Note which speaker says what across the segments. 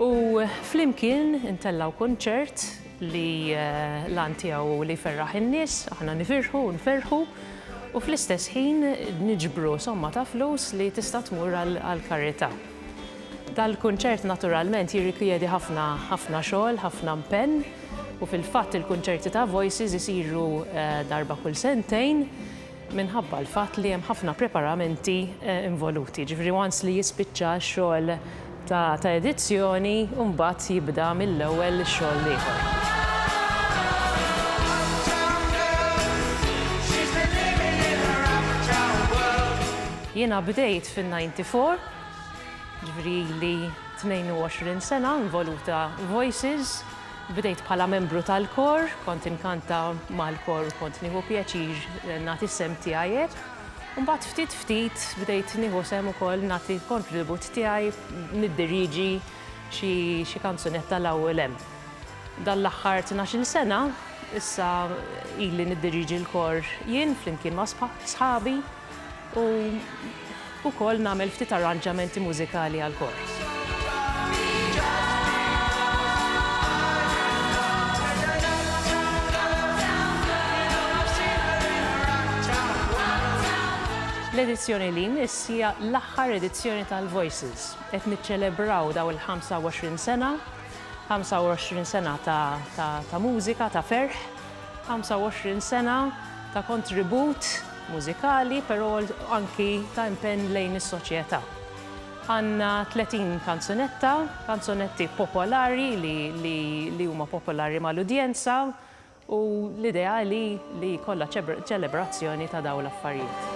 Speaker 1: U flimkien intellgħu kunċert li l-għan tiegħu hu li jferraħ in-nies, aħna nifirħu u nferrħu u fl-istess ħin niġbru somma ta' flus li tista' tmur għall-karità. Dal-kunċert naturalment jirrikjedi ħafna ħafna xogħol, ħafna mpenn u fil-fatt il-kunċerti ta' Voices isiru darba kull sentejn. minħabba l-fatt li hemm ħafna preparamenti involuti, jiġifieri once li jispiċċa x-xogħol ta' ta' edizzjoni u mbagħad jibda mill-ewwel ix-xogħol l-ieħor. Jiena bdejt fin-ninety four, jiġifieri ili 22 sena involuta f'Voices, Bdejt bħala membru tal-kor, kont inkanta mal-kor u kont nieħu pjaċir nagħti s-sehem tiegħi hekk. U mbagħad ftit ftit bdejt nieħu sehem ukoll nagħti l-kontribut tiegħi niddirieġi xi xi kanzunetta 'l hawn u 'l hemm. Dan l-aħħar tnax-il sena issa ili niddirieġi l-kor jien flimkien ma' sħabi. u wkoll nagħmel ftit arranġamenti mużikali għall-kor. L-edizzjoni li jmiss hija l-aħħar edizzjoni tal-Voices. Qed niċċelebraw dawn il-25 sena, 25 sena ta' mużika, ta' ferħ. 25 sena ta' kontribut mużikali però anki ta' impenn lejn is-soċjetà. Għandna 30 kanzunetta, kanzunetti popolari li huma popolari mal-udjenza u l-idea hi li jkollha ċelebrazzjoni ta' dawn l-affarijiet.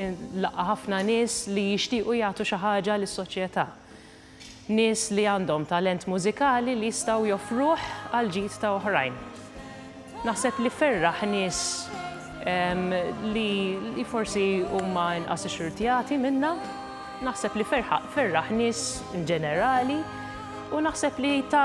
Speaker 1: Inlaqqa' ħafna nies li jixtiequ jagħtu xi ħaġa lis-soċjetà. Nies li għandhom talent mużikali li jistgħu joffruh għall-ġid ta' oħrajn. Naħseb li ferraħ nies li li forsi huma inqas ixxurtjati minnha. Naħseb li ferħaq ferraħ nies inġenerali u naħseb li ta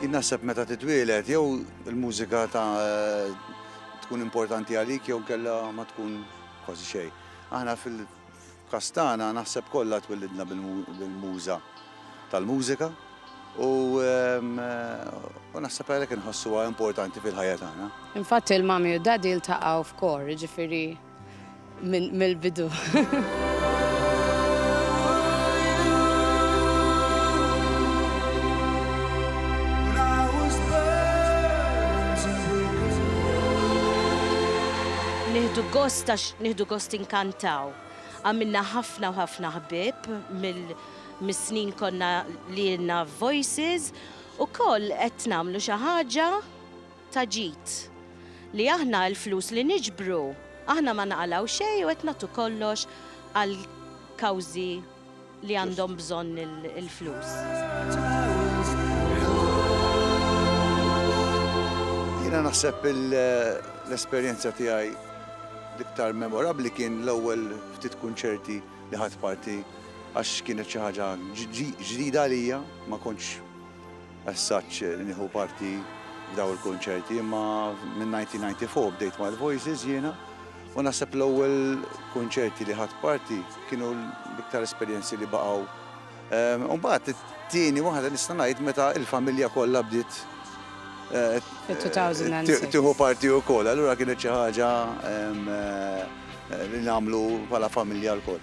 Speaker 2: Jien naħseb meta titwieled jew il-mużika ta' tkun importanti għalik jew kella ma tkun kważi xejn. Aħna fil-każ tagħna naħseb kollha twillidna bil-muża tal-mużika u u naħseb għalhekk inħossuha importanti fil-ħajja
Speaker 3: tagħna.
Speaker 2: Infatti
Speaker 3: l-Mummy u d-Daddy
Speaker 2: ltaqgħu
Speaker 3: f'kor, jiġifieri Minn mill-bidu.
Speaker 4: Nieħdu gost għax nieħdu gost inkantaw. Għamilna ħafna u ħafna ħbib mis-snin konna li jenna voices u koll qed nagħmlu xi ħaġa ta' ġid, li aħna l-flus li niġbru, aħna ma naqalgħu xejn u qed nagħtu kollox għal kawżi li għandhom bżonn il-flus.
Speaker 2: Jiena naħseb l-esperjenza tiegħi l-iktar memorabbli kien l-ewwel ftit kunċerti li ħadt parti għax kienet xi ħaġa ġdida għalija, ma kontx, As such nieħu parti f'daw il-kunċerti imma minn 1994 bdejt ma' l-Voices jiena u naħseb l-ewwel kunċerti li ħadt parti kienu l-iktar esperjenzi li baqgħu. Imbagħad it-tieni waħda nista' ngħid meta l-familja kollha bdiet tieħu parti wkoll. Allura kienet xi ħaġa li nagħmlu bħala familja lkoll.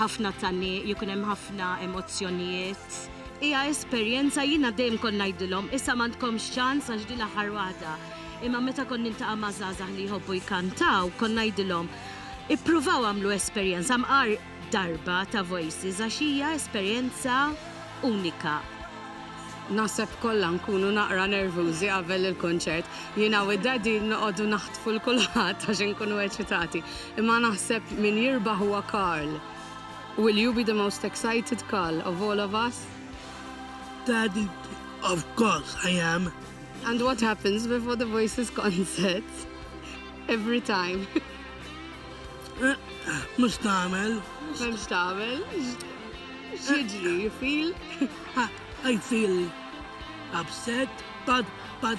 Speaker 4: ħafna tgħanniq, jkun hemm ħafna emozzjonijiet. Hija esperjenza jiena dejjem kont ngħidilhom issa m'għandkomx ċans għax din l-aħħar waħda. Imma meta kont niltaqa' ma' żgħażagħ li jħobbu jkantaw, kont ngħidilhom, ippruvaw agħmlu esperjenza mqar darba ta' Voices għax hija esperjenza unika.
Speaker 3: Naħseb kollha nkunu naqra nervużi qabel il-kunċert. Jiena u d-Daddy noqogħdu naħtfu 'l kulħadd għax inkunu eċitati. Imma naħseb min jirbaħ huwa Carl. Will you be the most excited Carl of all of us? Daddy,
Speaker 5: Of course I am! And what
Speaker 3: happens before the Voices concert? Every time.
Speaker 5: Mhux tagħmel. M'hemmx tagħmel.
Speaker 3: X'jiġri? You feel?
Speaker 5: I feel upset but but